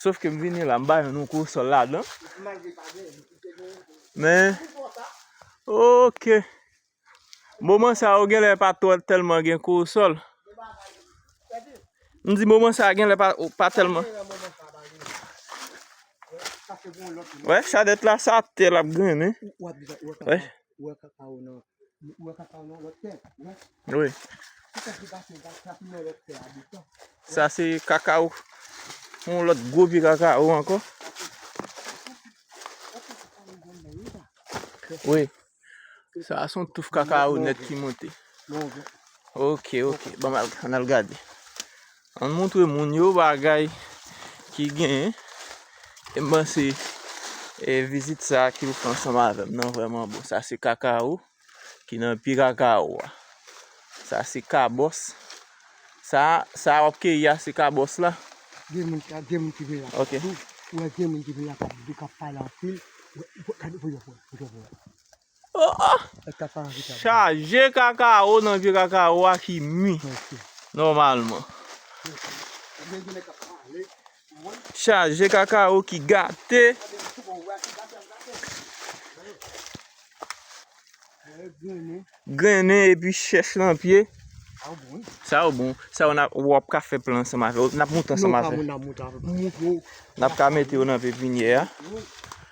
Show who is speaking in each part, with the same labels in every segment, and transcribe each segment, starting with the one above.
Speaker 1: Sof ke m vini la m ba yon nou kou sòl la dan. Men ok. Moman sa yo genlè pa twò tèlman gen kou sòl. M di moman sa genlè pa tèlman. Wè chadèt la sa ap te lap grennen. Wè. Sa se kakaw Yon lot gwo pye kakaw anko Sa son touf kakaw net ki monte Ok ok An al gade Ann montre moun yo bagay ki genyen. E m panse e vizit sa ke yo fè ansanm avè m nan vrèman bon. Sa se kakawo ki nan pye kakawo a. Sa se kabòs. Sa a, sa a w ap keyi a se kabòs la? Gen moun, gen moun ki vin la kap di, ou wè gen moun ki vin la kap di, kap pale anpil. Gade, gade, gade. Oh oh! Chaje kakao nan pye kakao a ki mi nòmalman. Chaje kakao ki gate. Grennen e pi chèch nan pye. Sa yo bon. Sa yo ou ap ka fè plan ansanm avè yo. N ap monte ansanm avè yo. N ap ka mete yo nan pepinyè a.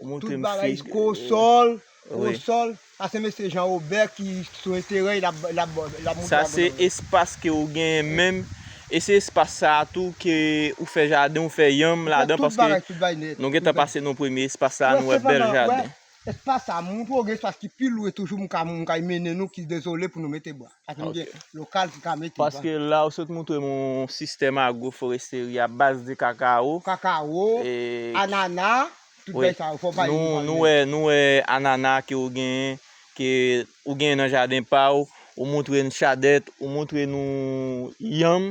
Speaker 2: Tout bagay ko sol Ko sol Sa se mesye Jean Robert ki sou enterè l ap moute agronomi Sa se
Speaker 1: espas ke ou genyen menm E se espas sa a tou ke ou fè jaden ou fè yanm ladan paske Nou gen tan pase nan premye espas sa a nou wè bèl jaden Espas sa a m
Speaker 2: montre w gen espas ki pi lwen toujou m ka mennen nou ki dezole pou nou mete bwa. Paske nou gen lokal ki ka mete. Paske la ou sot
Speaker 1: moutre m yon sistèm agwoforesteri a baz de kakawo. Kakawo,
Speaker 2: anana, tout bèy sa yo fò
Speaker 1: bay yon panye. Nou wè anana ke ou genyen, ke ou genyen nan jaden pa ou, ou moutre n chadèt, ou moutre nou yanm.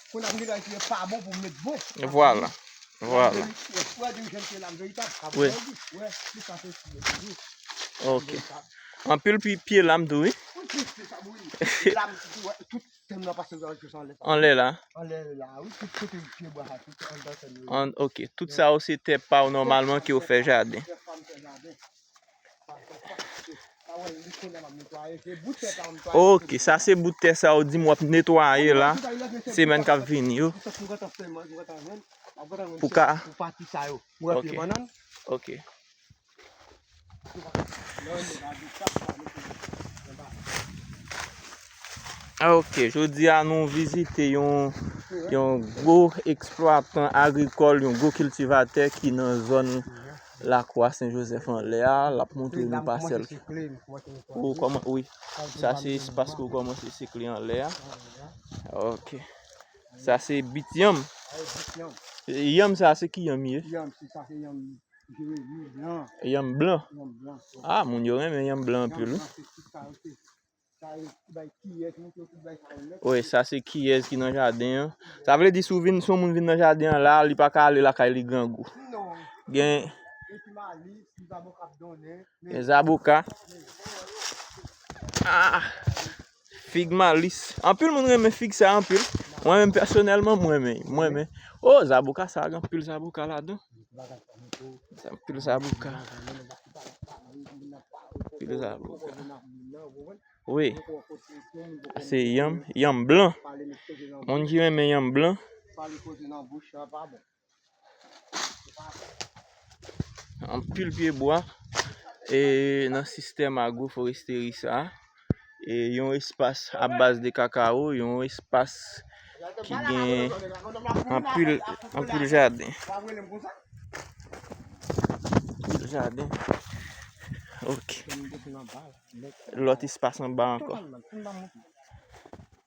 Speaker 2: Kon ap gen bagay ki pa bon pou met bon. Vwala.
Speaker 1: Vwala. Ok. Anpil pi pye lam tou wi. Anle la. Ok. Tout sa ou se te pa ou normalman ki ou fe jade. Ok sa se bout tè sa ou di m wap netwaye la semèn kap vini yo pou ka ok ok jodi a nou vizite yon gwo eksplwatan agrikòl yon gwo kiltivatè ki nan zòn Lakwa Sen Jozèf anlè a, l ap montre nou pasèl ki Ou kòman wi Sa se espas ke ou kòmanse sikle anlè a Ok Sa se bit yanm Yanm sa se ki yanm li ye? Yanm se sa se yanm
Speaker 2: Jeremi blan Yanm blan
Speaker 1: Yanm blan A moun yo renmen yanm blan anpil wi Yanm blan se ti sa yo se Wi sa se kiyes ki nan jaden an. Sa vle di si yon moun vin nan jaden an la, li pa ka ale lakay li grangou. Gen zaboka, fig malis. Anpil moun renmen fig sa anpil. Mwen menm pèsonèlman mwen renmen. O zaboka sa gen anpil zaboka ladan. Pil zaboka. Pil zaboka. Wi. Se yanm. Yanm blan. Moun ki renmen yanm blan. Anpil pyebwa. E nan sistèm agro foresteri sa. Yon espas a baz de kakawo, yon espas ki gen anpil jaden. Lòt espas anba ankò.